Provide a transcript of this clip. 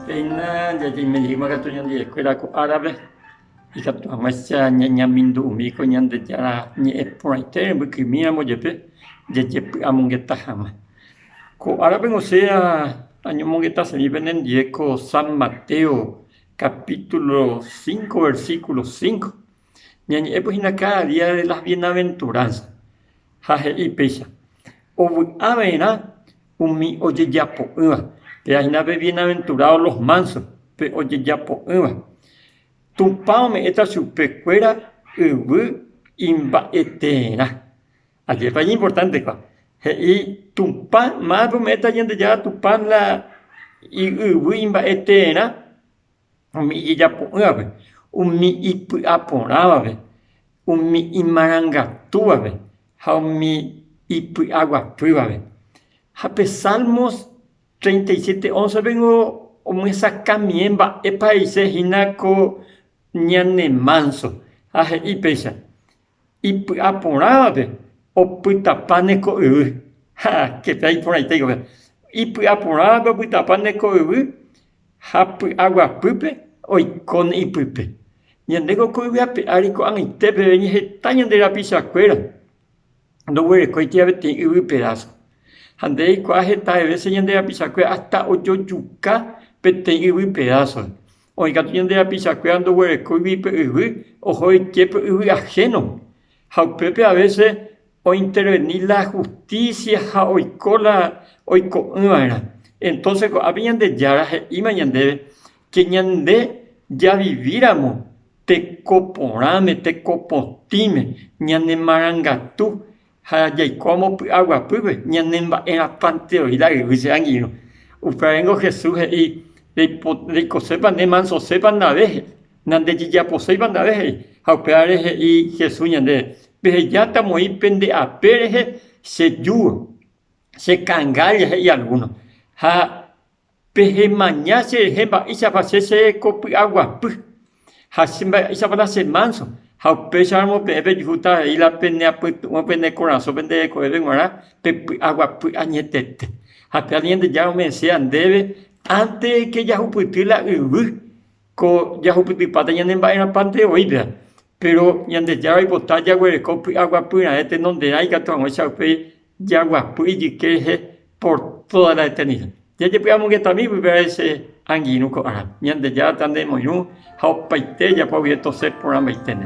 Péina ñañeimirirĩma katu ñande eskuéra ko árape, ikatu hag̃uáicha ñañemindu'imi ko Ñandejára Ñe'ẽ porãite rembykymíramo jepe jajepy'amongeta hag̃ua. Ko árape osea añomongeta chemi penendive ko San Mateo kapítulo cinco, versículo cinco. Ñañe'ẽpy hína káda día de las bienaventuránsas, ha he'i péicha, Ovy'a va'erã umi ojejapo'ỹva, péva hína pe bienaventurado los mansos, pe ojejapo'ỹva. Tupã ome'ẽta chupe kuéra yvy imba'eterã. Ajépa iñimportántekua! He'i Tupã, mávapa ome'ẽta Ñandejára Tupã la iyvy imba'eterã? umi ijejapo'ỹvape, umi ipy'aporãvape, umi imarangatúvape ha umi ipy'aguapývape. Ha pe Salmos treinta y siete once péngo omyesakãmiẽ mba'épa he'ise hína ko ñanemánso, ha he'i péicha, ipy'aporãvape opytapa ne ko yvy. Ha kepea iporãite iko pe. Ipy'aporãvape opytapa ne ko yvy ha py'aguapýpe oiko ne ipype. Ñande ko ko yvyape ári ko'ag̃aite peve ñeheta ñande rapichakuéra ndoguerekóiti avei yvy pedazo. Ha nde reikuaa heta de vece ñande rapichakuéra hasta ojojuka peteĩ yvy pedazo. Oĩ katu ñande rapichakuéra ndoguerekóigui pe yvy, oho'eitie pe yvy ahénope. Ha upépe avése ointerveni la hustísia ha oiko la oiko'ỹva'erã. Entóse ko'ápe Ñandejára he'íma ñandéve ke ñande javivíramo teko porãme, teko potĩme, ñanemarangatu Ha jaikuaámo py'aguapýpe, ñanemba'erãpanteroíta yvy che angirũ. Upévango Jesús he'i, Reikosépa nde, mansosépa ndave, nandejejaposéipa ndave he'i. Ha upévare he'i Jesús ñandéve, Pehejáta moi pende ape rehe che júgo, che kangalla he'i algúno. Ha Pehemaña cherehe mba'éichapa che cheko py'aguapy, ha che mba'éichapa la che mánso, ha upéicharamo peẽ pejujúta rei la peneapytu'ũ pene korasõpe nde rekovépe g̃uarã pe py'aguapy añetete. Ha pe aliente Jára omyesẽva ndéve, ánte de ke jahupyty la yvy. Ko jahupytypáta ñane mba'erãpante oĩva, péro Ñandejára oipota jaguereko py'aguapy raẽ tenonderã ikatu hag̃ua che upéi jaguapy ijyke rehe por tóda la eternida. Jajepy'amongetami pypehare che angirũ ko árape, Ñandejára tanemoirũ ha opaite ejapo guive tosẽ porãmbaiteme.